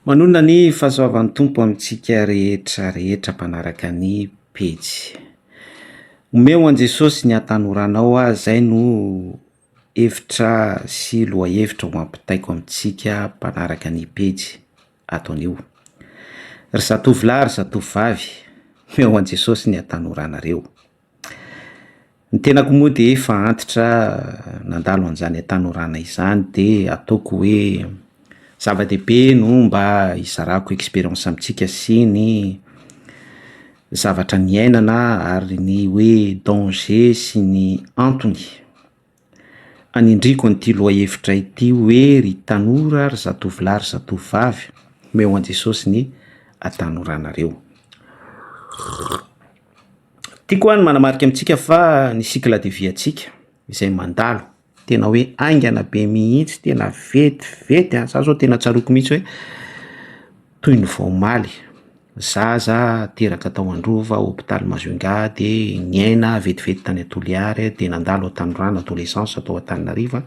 Manonona ny fahasoavan'ny Tompo amintsika rehetra rehetra mpanaraka ny pejy. Omeo an'i Jesosy ny atanoranao aho zay no hevitra sy lohahevitra ho ampitaiko amintsika mpanaraka ny pejy ato anio. Ry zatovolahy ry zatovovavy, omeo an'i Jesosy ny atanoranareo. Ny tenako moa dia efa antitra nandalo an'izany hatanorana izany de ataoko hoe zava-dehibe no mba hizarako experience amintsika sy ny zavatra niainana ary ny hoe danger sy ny antony. Anindriako an'ity lohahevitra ity hoe ry tanora, ry zatovolahy, ry zatovovavy, omeo an'i Jesosy ny hatanorànareo. Tiako aho ny manamarika amintsika fa ny cycle de vie antsika izay mandalo, tena hoe haingana be mihitsy, tena vetivety an! Za zao tena tsaroako mihitsy hoe. Toy ny vao omaly, zaza teraka tao Androva, hopitaly Majunga, dia niaina vetivety tany Toliary, dia nandalo ao Tanorano, adolescence, tao Antananarivo,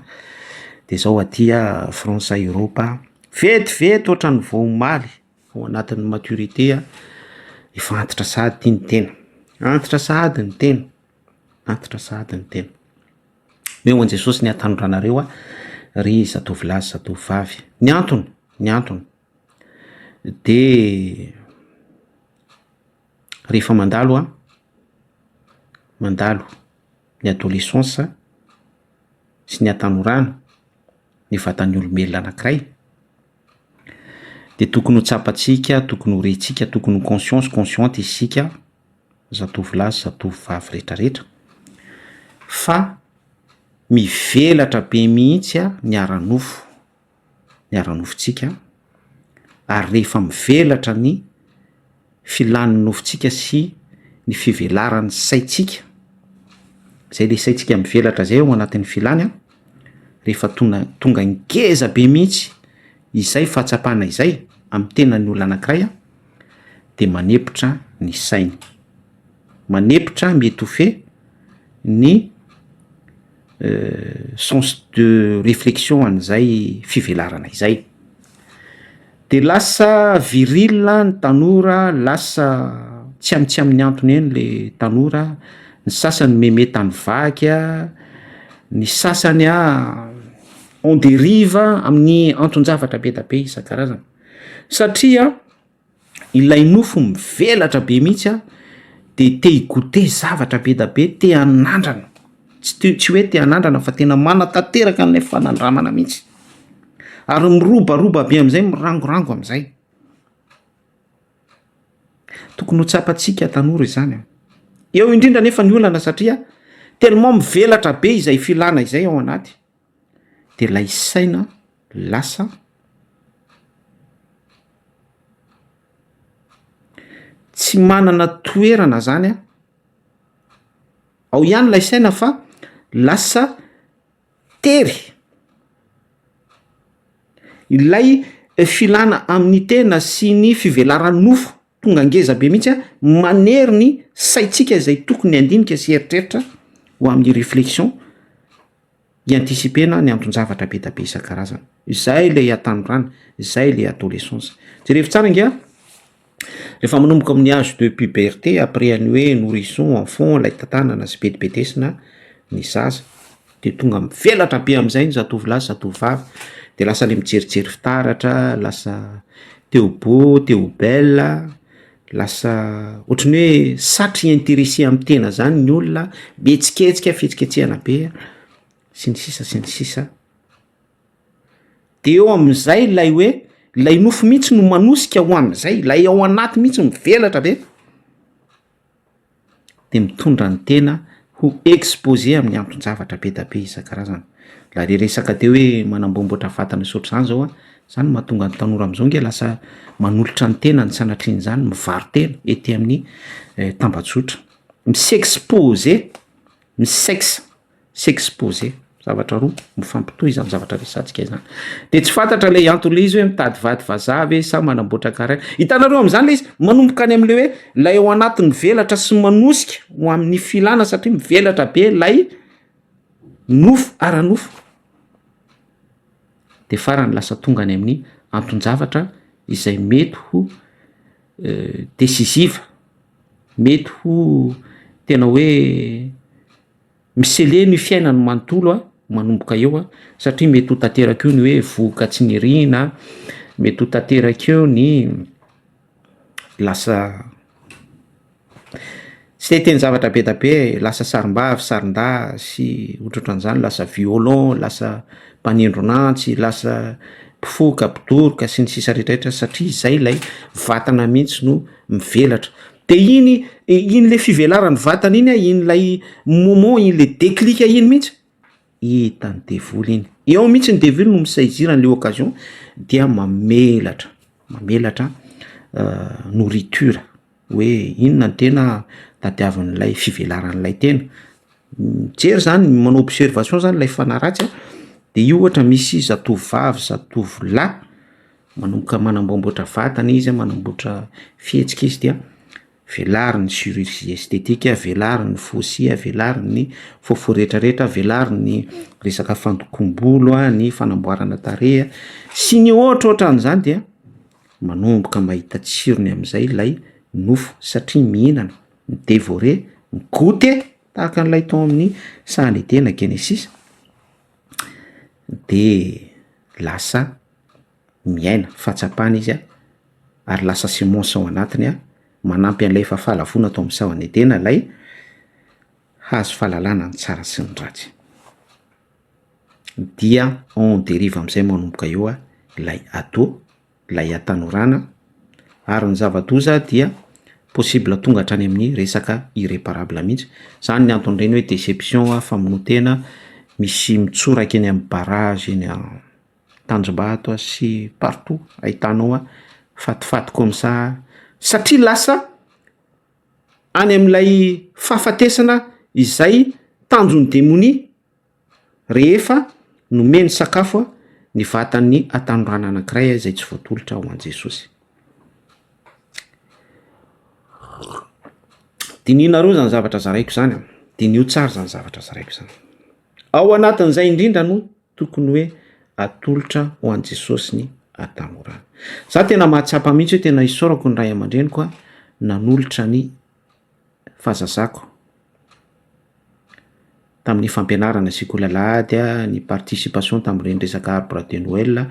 dia izao aty France, Eoropa, vetivety ohatran'ny vao omaly, ao anatin'ny maturité, efa antitra sahady ity ny tena, antitra sahady ny tena, antitra sahady ny tena. Omeo an'i Jesosy ny hatanorana anareo ry zatovolahy sy zatovovavy. Ny antony, ny antony. Dia rehefa mandalo aho, mandalo ny adolescence sy ny hatanorana ny vatan'ny olombelona anankiray dia tokony ho tsapantsika, tokony ho rentsika, tokony ho conscient sy consciente isika zatovolahy sy zatovovavy rehetra rehetra fa mivelatra be mihitsy ny ara-nofo. ny ara-nofontsika ary rehefa mivelatra ny filan'ny nofontsika sy ny fivelaran'ny saintsika, izay ilay saintsika mivelatra izay ao anatin'ny filany an, rehefa tona- tonga ngeza be mihitsy izay fahatsapana izay amin'ny tenan'ny olona anankiray an, dia manepotra ny sainy, manepotra, mi-etouffer, ny. sens de réflexion an'izay fivelarana izay, de lasa viril ny tanora, lasa tsy am- tsy amin'ny antony eny le tanora, ny sasany meme tany vaky a, ny sasany a en dérive amin'ny anton-javatra be dia be isan-karazany satria. Ilay nofo mivelatra be mihitsy a, dia te hi-goûter zavatra be dia be, te hanandrana, tsy te- tsy hoe te hanandrana fa tena manatanteraka an'ilay fanandramana mihitsy, ary mirobaroba be amin'izay, mirangorango amin'izay. Tokony ho tsapantsika tanora izany a. Eo indrindra anefa ny olana satria tellement mivelatra be izay filana izay ao anaty. dia ilay saina lasa tsy manana toerana zany an, ao ihany ilay saina fa lasa tery ilay filana amin'ny tena sy ny fivelaran'ny nofo tonga ngeza be mihitsy an, manery ny saintsika izay tokony handinika sy hieritreritra ho amin'ny reflexion. hi-anticiper-na ny anton-javatra be dia be isan-karazany. Izay ilay hatanorana, izay ilay adolescence. Jerevo tsara ange an! Rehefa manomboka amin'ny âge de puberté, après an'ny hoe nourrisson, enfant, ilay tantanana sy bedibedesina ny zaza, dia tonga mivelatra be amin'izay ny zatovolahy sy zatovovavy, dia lasa ilay mijerijery fitaratra, lasa te ho beau, te ho belle, Lasa ohatran'ny hoe satry intéressé amin'ny tena zany ny olona, be tsiketsika, fihetsiketsehana be sy ny sisa sy ny sisa. De eo amin'izay lay hoe lay nofo mihitsy no manosika ho an'izay, lay ao anaty mihitsy mivelatra be. dia mitondra ny tena ho exposé amin'ny anton-javatra be dia be isan-karazany. Raha re resaka teo hoe manamboamboatra vata misotro izany izao aho, izany no mahatonga ny tanora amin'izao ange lasa manolotra ny tenany sanatrian'izany mivaro-tena ety amin'ny tambajotra. Mi-s'exposer, mi-sexe. s'exposer zavatra roa mifampitohy izany zavatra resantsika izany de tsy fantatra ilay antony ilay izy hoe mitady vady vazaha ve sa manamboatra carrière hitanareo amin'izany ilay izy manomboka any amin'ilay hoe ilay eo anaty mivelatra sy manosika ho amin'ny filana satria mivelatra be ilay nofo ara nofo de farany lasa tonga any amin'ny anton-javatra izay mety ho decisive mety ho tena hoe Miseleno io fiainany manontolo a, manomboka eo a, satria mety ho tanteraka eo ny hoe vohoka tsy niriana, mety ho tanteraka eo ny lasa tsy te hiteny zavatra be dia be e, lasa sarimbavy, sarindahy sy ohatrohatran'izany, lasa violon, lasa mpanindron'antsy, lasa mpifoka, mpidoroka sy ny sisa rehetra rehetra satria izay ilay vatana mihitsy no mivelatra. De iny iny le fivelaran'ny vatana iny a, iny lay moment iny le déclic iny mihitsy, hitan'ny devoly iny, eo mihitsy ny devoly no mi-saisir an'le occasion dia mamelatra, mamelatra nourriture hoe inona ny tena tadiavin'ilay fivelaran'ilay tena, mijery zany, manao observation zany ilay fanahy ratsy a, de io ohatra misy zatovovavy, zatovolahy. Manomboka manamboamboatra vatana izy, manamboatra fihetsika izy dia velariny ny chirurgie esthétique, velariny ny fossy, velariny ny fofo retraretra, velariny ny resaka fandokoam-bolo, ny fanamboarana tarehy sy ny hoatroatran'izany dia manomboka mahita tsirony amin'izay ilay nofo satria mihinana, mi-devorer, mi-goute tahaka an'ilay tao amin'ny sahan'i Edena, Genesisy, de lasa. miaina fahatsapana izy an, ary lasa semence ao anatiny an, manampy an'ilay efa fahalavoana tao amin'ny sahona Edena ilay hazo fahalalana ny tsara sy ny ratsy. Dia en derive amin'izay manomboka eo an, ilay ado, ilay hatanorana, ary ny zava-doza dia possible tonga hatrany amin'ny resaka irreparable mihintsy, izany no anton'ireny hoe deception, famonoan-tena, misy mitsoraka eny amin'ny barrage eny an. tanjombato a sy partout ahitanao a fatifaty comme ça satria lasa any amin'ilay fahafatesana izay tanjon'ny demonia rehefa nomeny sakafo a ny vatan'ny hatanorana anankiray a izay tsy voatolotra ho an'i jesosy dinihinareo zany zavatra zaraiko zany a diniho tsara zany zavatra zaraiko zany ao anatin'izay indrindra no tokony hoe atolotra ho an'i Jesosy ny atamorana. Za tena mahatsapa mihitsy hoe tena isaorako ny ray aman-dreniko a nanolotra ny fahazazako tamin'ny fampianarana sekoly alahady a, ny participation tamin'ireny resaka arbre de Noël,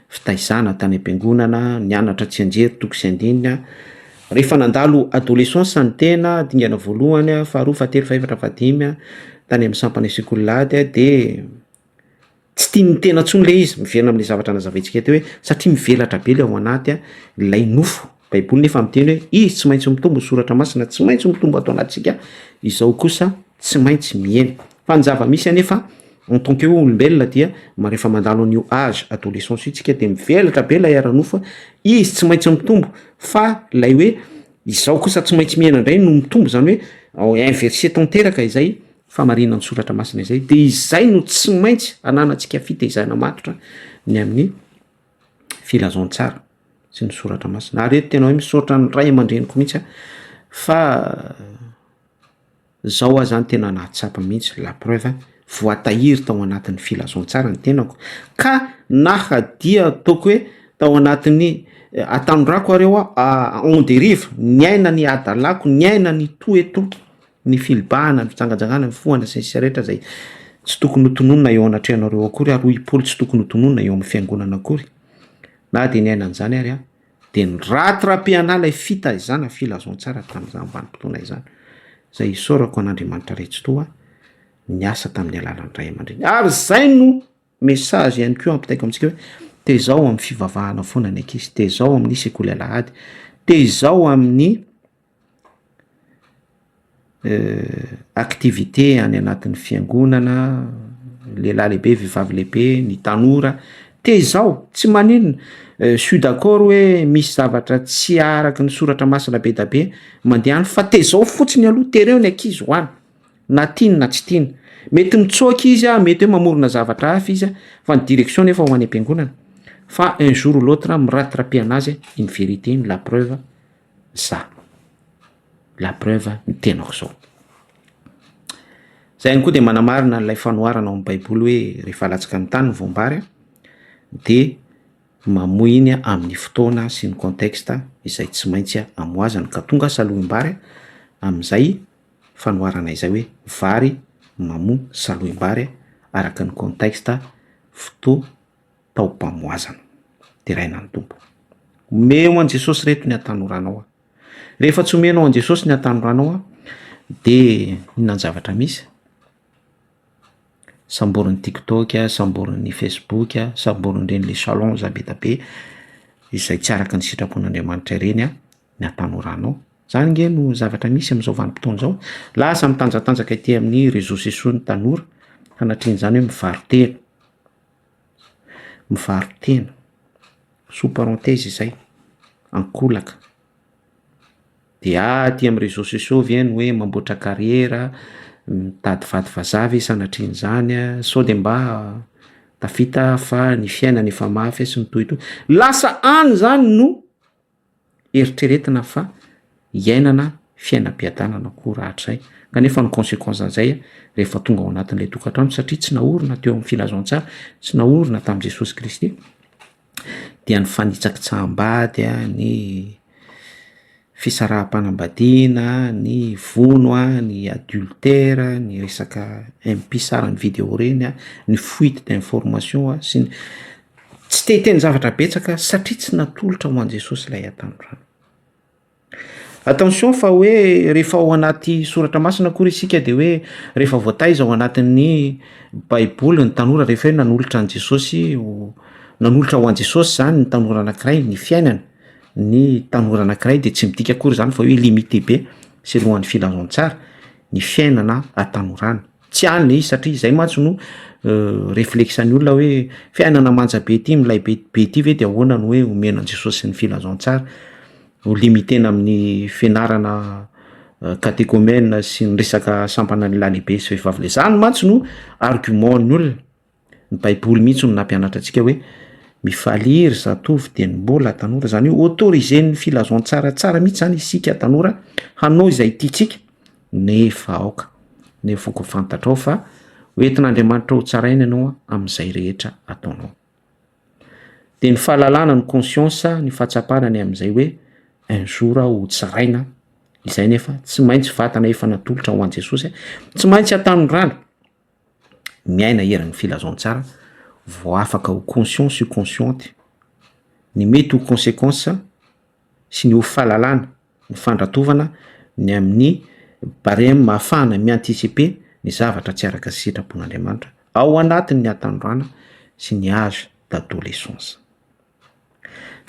fitaizana tany am-piangonana, nianatra tsianjery toko sy andininy a, Rehefa nandalo adolescence ny tena, dingana voalohany, faharoa, fahatelo, fahefatra, fahadimy, tany amin'ny sampana asiako ny lady dia tsy tian'ny tena intsony ilay izy, miverina amin'ilay zavatra nazavaintsika teo hoe satria mivelatra be ilay ao anaty, ilay nofo, baiboly nefa miteny hoe izy tsy maintsy mitombo, ny soratra masina tsy maintsy mitombo ato anatintsika, izao kosa. tsy maintsy mihena. Fa ny zava-misy anefa en tant que olombelona dia rehefa mandalo an'io âge adolescence io tsika dia mivelatra be ilay ara-nofo a, izy tsy maintsy mitombo fa ilay hoe izao kosa tsy maintsy mihena indray no mitombo izany hoe inverser tanteraka izay fahamarinan' ny soratra masina izay, dia izay no tsy maintsy ananantsika fitaizana matotra ny amin'ny filazantsara sy ny soratra masina. Ary eto tena hoe misaotra ny ray aman-dreniko mihitsy aho fa Zao aza tena nahatsapa mihitsy la preuve voatahiry tao anatin'ny filazantsara ny tenako ka naha dia ataoko hoe tao anatin'ny atanirako ary eo aho en derive niaina ny hadalako niaina ny to et to ny filibahana ny fijangajangana ny fohana sy ny sisa rehetra zay tsy tokony ho tononina eo anatrehanareo akory ary hoy i Paoly tsy tokony ho tononina eo amin'ny fiangonana akory na dia niaina an'izany ary aho. Dia niraty Rapiana ilay fitaizana filazantsara tamin'izany vanim-potoana izany, izay isaorako an'Andriamanitra Raitsitoha niasa tamin'ny alalan'ny ray aman-dreny. Ary izay no message ihany koa ampitaiko amintsika hoe tezaho amin'ny fivavahana foana ny ankizy, tezaho amin'ny sekoly alahady, tezaho amin'ny activité any anatin'ny fiangonana, lehilahy lehibe, vehivavy lehibe, ny tanora, tezao, tsy maninona, je suis d'accord hoe misy zavatra tsy araky ny soratra masina be dia be mandeha any fa tezao fotsiny aloha, tereo ny ankizy ho any, na tiany na tsy tiany, mety mitsoaka izy an, mety hoe mamorona zavatra hafa izy an, fa ny direction nefa ho any am-piangonana, fa un jour ou l'autre mirate raha-pian'azy iny vérité iny, la preuve. za. La preuve ny tenako zao. Za ihany koa dia manamarina an'ilay fanoharana ao amin'ny baiboly hoe rehefa alatsaka ny tany ny voam-bary dia mamoy iny amin'ny fotoana sy ny contexte izay tsy maintsy amohazany ka tonga salohim-bary amin'izay fanoharana izay hoe vary mamoa salohim-bary araka ny contexte fotoana taom-pamoazana. Deraina ny Tompo. Omeo an'i Jesosy reto ny atanoranao aho. Rehefa tsy omenao an'i Jesosy ny atanoranao aho, dia inona ny zavatra misy? Samborin'ny TikTok, samborin'ny Facebook, samborin'ireny les challenge be dia be izay tsy araka ny sitrapon'Andriamanitra ireny aho ny atanoranao. Izany ange no zavatra misy amin'izao vanim-potoana izao. Lasa mitanjatanjaka ety amin'ny réseaux sociaux ny tanora, sanatria an'izany hoe mivaro-tena. Mivaro-tena, sous parenthèse izay, an-kolaka. Dia aty amin'ny réseaux sociaux ve no hoe mamboatra carrière, mitady vady vazaha ve sanatrian'izany sao dia mba tafita fa ny fiainana efa mafy sy ny tohitohy. Lasa any izany no. eritreretina fa iainana fiainam-piadanana koa rahatray kanefa ny consequence an'izay rehefa tonga ao anatin'ilay tokantrano satria tsy naorina teo amin'ny filazantsara tsy naorina tamin'i Jesosy Kristy dia ny fanitsakitsaham-bady a ny fisaraham-panambadiana ny vono a ny adultère ny resaka impie sara ny video reny a ny fuite d'information a sy ny Tsy te hiteny zavatra betsaka satria tsy natolotra ho an'i Jesosy ilay hatanorana. Attention fa hoe rehefa ao anaty soratra masina akory isika dia hoe rehefa voataiza ao anatin'ny baiboly ny tanora rehefa hoe nanolotra an'i Jesosy ho nanolotra ho an'i Jesosy izany ny tanora anankiray ny fiainany ny tanora anankiray dia tsy midika akory izany fa hoe limité be selohan'ny filazantsara ny fiainana an-tanorana. Tsy any izy satria izay mantsy no reflexan'ny olona hoe fiainana manja be ity milay be be ity ve dia ahoana no hoe omena an'i Jesosy sy ny filazantsara, ho limiter-na amin'ny fianarana catéchomène sy ny resaka sampana lalehibe sy vehivavy lehibe, izany mantsy no argument-ny olona. Ny baiboly mihintsy no nampianatra antsika hoe mifalia ry zatovo dieny mbola tanora, zany hoe autoriser-n'ny filazantsara tsara mihintsy zany isika tanora hanao izay tiantsika nefa aoka nefa aoka ho fantatrao fa ho entin'Andriamanitra ho tsaraina ianao amin'izay rehetra ataonao. De ny fahalalana ny conscience ny fahatsapana ny amin'izay hoe un jour aho ho tsaraina izay nefa tsy maintsy vatana efa natolotra ho an'i Jesosy, tsy maintsy hatanorana miaina eran'ny filazantsara vao afaka ho conscient sy consciente ny mety ho consequence sy ny ho fahalalana ny fandratovana ny amin'ny barème ahafahana mi-anticiper ny zavatra tsy araka ny sitrapon'Andriamanitra ao anatin'ny hatanorana sy ny âge d'adolescence.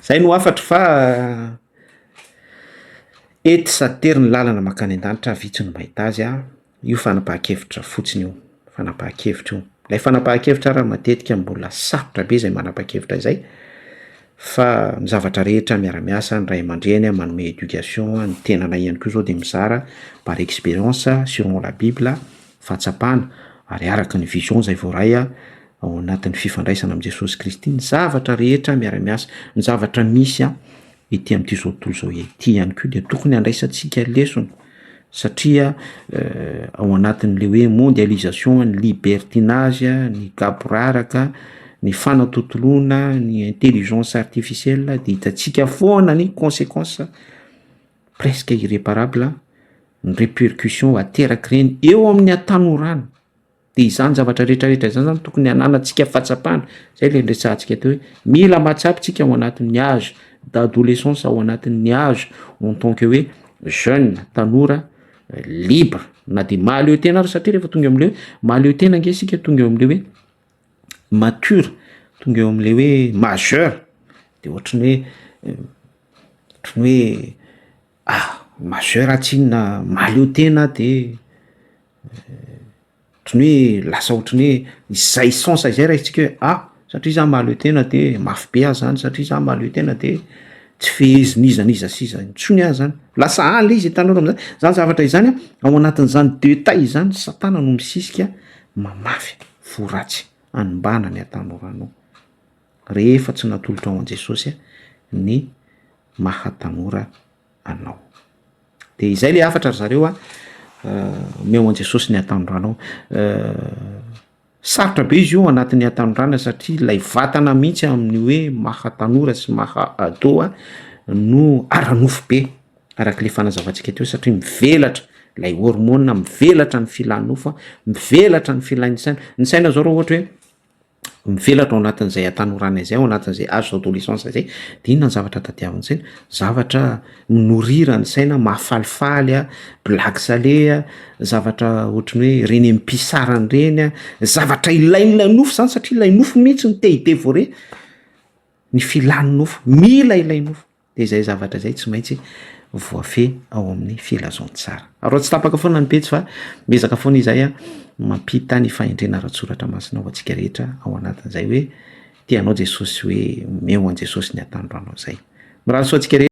Izay no hafatro fa eto sady tery ny lalana mankany an-danitra, vitsy no mahita azy an, io fanapahan-kevitra fotsiny io, fanapahan-kevitra io. Ilay fanapahan-kevitra ary matetika mbola sarotra be izay manapa-kevitra izay fa ny zavatra rehetra miara-miasa, ny ray aman-dreny manome éducation, ny tenanay ihany koa izao dia mizara par expérience, selon la bible, fahatsapana ary araka ny vision izay voaray an, ao anatin'ny fifandraisana amin'i Jesosy Kristy ny zavatra rehetra miara-miasa, ny zavatra misy ety amin'ity izao tontolo izao ity ihany koa dia tokony handraisantsika lesona satria ao anatin'ilay hoe mondialisation, ny libertinage, ny gaboraraka, ny fanatontoloana, ny intelligence artificielle dia hitantsika foana ny consequences presque irreparable, ny repercussions aterak'ireny eo amin'ny hatanorana. Dia izany zavatra rehetra rehetra izany izany tokony hananantsika fahatsapana, izay ilay niresahantsika teo hoe mila mahatsapa isika ao anatin'ny âge d'adolescence, ao anatin'ny âge en tant que hoe jeune, tanora libre na dia mahaleo tena ary satria rehefa tonga amin'ilay hoe mahaleo tena ange isika tonga eo amin'ilay hoe mature, tonga eo amin'ilay hoe majeur dia ohatran'ny hoe ohatran'ny hoe. Ah! Majeur ah tsy inona mahaleo tena de ohatran'ny hoe lasa ohatran'ny hoe izay sens izay raisintsika hoe ah! satria za mahaleo tena de mafy be aho zany, satria za mahaleo tena de tsy fehezin'iza n'iza sy iza intsony aho zany, lasa any le izy ny tanora amizany, zany zavatra izany an, ao anatin'izany deux taille izany satana no misisika mamafy fo ratsy, anmbana ny hatanorano. rehefa tsy natolotra ho an'i Jesosy ny maha tanora anao. Dia izay ilay hafatra ry zareo a, omeo an'i Jesosy ny hatanorana sarotra be izy io anatin'ny hatanorana satria ilay vatana mihitsy amin'ny hoe maha tanora sy maha ado a no ara-nofo be araka ilay fanazavantsika teo satria mivelatra ilay hormone, mivelatra ny filan'ny nofo a, mivelatra ny filan'ny saina, ny saina zao raha ohatra hoe. mivelatra ao anatin'izay hatanorana izay, ao anatin'izay âge d'adolescence izay, dia inona ny zavatra tadiavin'saina? Zavatra mi-nourrir ny saina, mahafalifaly, blague salée, zavatra ohatry ny hoe ireny am-pisarany ireny, zavatra ilain'ilay nofo izany satria ilay nofo mihitsy no te-hi-devourer ny filàn'ny nofo, mila ilay nofo. Dia izay zavatra izay tsy maintsy voafehy ao amin'ny filazantsara. Ary tsy tapaka foana ny pejy fa miezaka foana izahay mampita ny fahendrena ara-tsoratra masina ho antsika rehetra ao anatin'izay hoe tia anao Jesosy sy hoe omeo an'i Jesosy ny atandroanao izay. Mirary soa antsika rehetra.